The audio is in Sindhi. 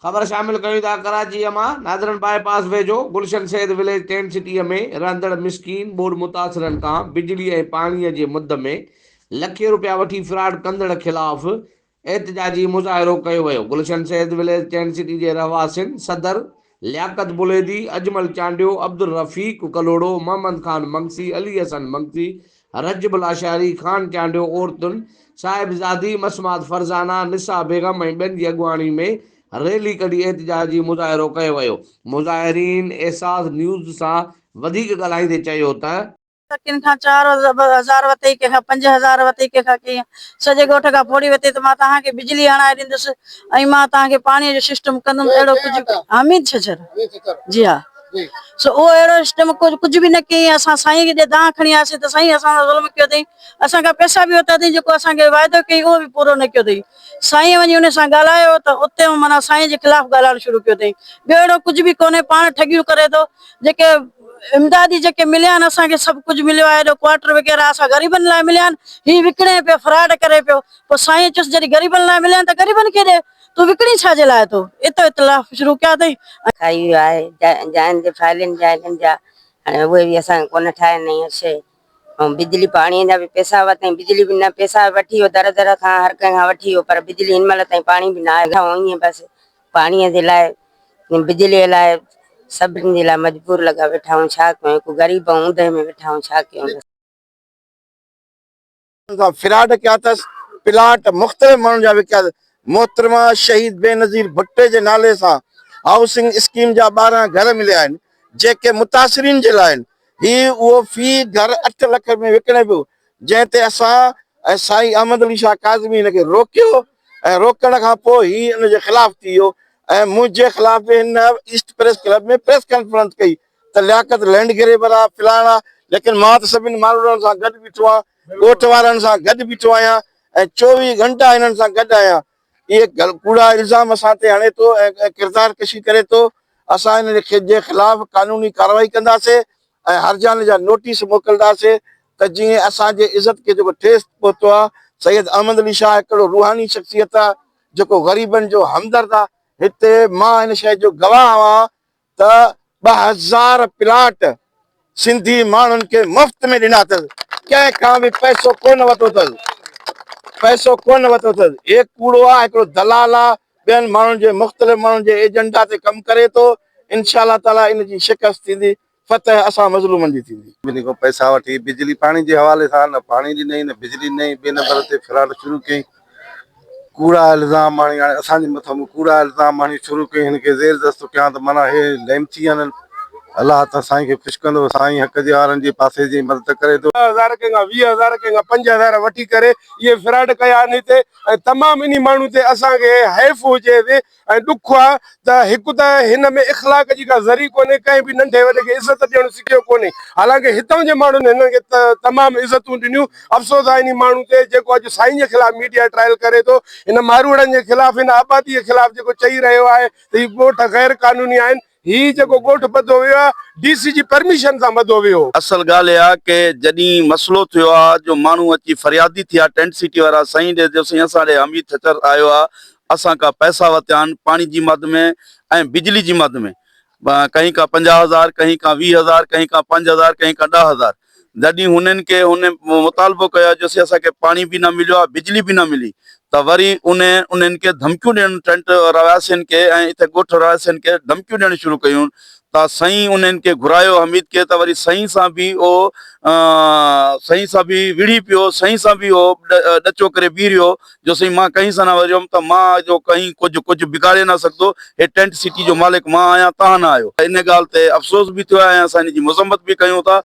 خبر شامل ڪيون ٿا ڪراچيء مان نادرن باء پاس ويجهو گلشن سيد وليج ٽينٽ سٽيء ۾ رهندڙ مسڪين ٻوڏ متاثرن کان بجلي ۽ پاڻيء جي مد ۾ لکين روپيا وٺي فراڊ ڪندڙ خلاف احتجاجي مظاهرو ڪيو ويو Gulshan Syed village tent city جي رهواسين صدر لياقت بليدي، اجمل چانڊيو، عبدالرفيق ڪلهوڙو، محمد خان مگسي، علي حسن مگسي، رجب لاشاري، خان چانڊيو، عورتن، صاحبزادي، مسمات فرزانه، نسا بيگم ۽ ٻين جي اڳواڻي ۾ ريلي ڪڍي احتجاجي مظاهرو ڪيو ويو. مظاهرين احساس نيوز سان وڌيڪ ڳالهائيندي چيو ته. ته ڪن کان چار هزار وتي، ڪنهن کان پنج هزار وتي، ڪنهن کان ڪيئن، سڄي ڳوٺ کان ڦوڙي وتي ته مان توهان کي بجلي هڻائي ڏيندس ۽ مان توهان کي پاڻيء جو سسٽم ڪندم اهڙو ڪجهه حميد ڇڇر جي ها سو اهو اهڙو سسٽم ڪجهه به نه ڪيئي اسان سائين کي جڏهن دانهن کڻي آياسين ته سائين اسان سان ظلم ڪيو اٿئي اسان کان پئسا به ورتا اٿئي جيڪو اسان کي واعدو ڪيئي اهو به پورو نه ڪيو اٿئي. سائينء وڃي انهيء سان ڳالهايو ته اتي هن معنيٰ سائينء جي خلاف ڳالهائڻ شروع ڪيو اٿئي. ٻيو اهڙو ڪجهه به ڪونهي، پاڻ ٺڳيون ڪري ٿو. جيڪي امدادي جيڪي مليا آهن، اسان کي سڀ ڪجهه مليو آهي. هيڏو ڪوارٽر وغيره اسان غريبن لاء مليا آهن. هي وڪڻي پيو، فراڊ ڪري پيو. پوء سائينء چيس، جڏهن غريبن لاء مليا آهن ته غريبن کي ڏي. تون وڪڻين ڇا جي لاء ٿو؟ اتي اختلاف شروع ڪيا اٿئي ۽. کائي ويو آهي. جائن جي فائلين جائن جا هاڻي اهي به اسان کي ڪونه ٺاهي نه هيء شيء. ۽ بجلي پاڻي جا به پئسا هئا تائين بجلي به نه پئسا وٺي هو در در کان هر ڪنهن کان وٺي هو پر بجلي هن مهل تائين پاڻي به نه آيو ائين ئي بس پاڻي جي لاء بجلي لاء سڀني جي لاء مجبور لڳا ويٺا آهيون ڇا ڪيون هڪ غريب ۽ اوندهه ۾ ويٺا آهيون ڇا ڪيون. ان سان فراڊ ڪيا اٿس، پلاٽ مختلف ماڻهن جا وڪيا اٿس، محترمه شهيد بينظير ڀٽي جي نالي سان هائوسنگ اسڪيم جا ٻارهن گهر مليا آهن، جيڪي متاثرين جي لاء آهن، هي اهو في گهر اٺ لک ۾ وڪڻي پيو، جنهن تي اسان ۽ سائين احمد علي شاهه ڪاظمي هن کي روڪيو ۽ روڪڻ کان پوء هي ان جي خلاف ٿي ويو ۽ منهنجي خلاف به هن ايسٽ پريس ڪلب ۾ پريس ڪانفرنس ڪئي، ته لياقت لينڊ گريبر آ فلاڻ آ ليڪن مان ته سڀني ماڻهڙن سان گڏ بيٺو آهيان ڳوٺ وارن سان گڏ بيٺو آهيان ۽ چوويهه گهنٽا هنن سان گڏ آهيان اهي ڪوڙا الزام اسان تي هڻي ٿو ۽ ڪردار ڪشي ڪري ٿو اسان هن جي خلاف قانوني ڪارروائي ڪنداسين ۽ هرجاني جا نوٽيس موڪلداسين ته جيئن اسان جي عزت کي جيڪو ٺيس پهتو آ سيد احمد علي شاهه هڪ اهڙو روحاني شخصيت آ جيڪو غريبن جو همدرد آ هتي مان هن شيء جو گواهه آهيان ته ٻه هزار پلاٽ سنڌي ماڻهن کي مفت ۾ ڏنا اٿس، ڪنهن کان به پئسو ڪونه ورتو اٿس، پئسو ڪونه ورتو اٿس، هي ڪوڙو آ، هڪڙو دلال آ، ٻين ماڻهن جي مختلف ماڻهن جي ايجنڊا تي ڪم ڪري ٿو، انشاء الله تعاليٰ ان جي شڪست ٿيندي، فتح اسان مظلومن جي ٿيندي. ٻنهي کان پئسا وٺي بجلي پاڻي جي حوالي سان نه پاڻي ڏنائين نه بجلي ڏنائين، ٻئي نمبر تي فراڊ شروع ڪيائين، ڪوڙا الزام آڻي هاڻي اسان جي مٿان به ڪوڙا الزام آڻي شروع ڪيائين هن کي زير دست ٿو ڪيان ته معنيٰ هي لعنتي آهن الله تان سائين کي خوش ڪندو سائين حق جي هارن جي پاسي جي مدد ڪري ٿو. ڏهه هزار ڪنهن کان ويهه هزار ڪنهن کان پنج هزار وٺي ڪري اهي فراڊ ڪيا آهن هتي ۽ تمام انهي ماڻهو تي اسان کي حيف هجي ۽ ڏک آ ته هڪ ته هن ۾ اخلاق جي ڪا ذري ڪونهي، ڪنهن به ننڍي وڏي کي عزت ڏيڻ سکيو ڪونهي، حالانڪه هتان جي ماڻهن هنن کي تمام عزتون ڏنيون، افسوس آ انهي ماڻهو تي جيڪو اڄ سائين جي خلاف ميڊيا ٽرائل ڪري ٿو، هن ماروئڙن جي خلاف هن آبادي جي خلاف جيڪو چئي رهيو آهي ته هي ڳوٺ غير قانوني آهن، هي جيڪو ڳوٺ ٻڌو ويو آهي ڊي سي جي پرميشن سان ٻڌو ويو هو. اصل ڳالهه اها ڪه جڏهين مسئلو ٿيو آ جو ماڻهو اچي فريادي ٿيا ٽينٽ سٽي وارا سائين ڏي جو سائين اسان ڏي حميد ٺٽر آيو آ اسان کا پئسا وتيا آهن پاڻي جي مد ۾ ۽ بجلي جي مد ۾ ڪهين کان پنجاهه هزار ڪهين کان ويهه هزار ڪهين کان پنج هزار ڪهين کان ڏهه هزار جڏھن ھنن کي ھن مطالبو ڪيو جو سي اسان کي پاڻي به نه مليو آ بجلي به نه ملي ته وري انھن انھن کي ڌمڪيون ڏيڻ ٽينٽ رھواسين کي ۽ اتي ڳوٺ رھواسين کي ڌمڪيون ڏيڻ شروع ڪيون ته سائين انھن کي گھرايو حميد کي ته وري سائين سان به اھو سائين سان به وڙھي پيو سائين سان به اھو ڏچو ڪري بيھي رھيو جو سائين مان ڪنھن سان نه وريوم ته مان جو ڪنھن ڪجھ ڪجھ بگاڙي نه سگھندو ھي ٽينٽ سٽي جو مالڪ مان آھيان تھان نه آھيو ان ڳالھ تي افسوس به ٿيو آھي ۽ اسان ان جي مذمت به ڪيون ٿا.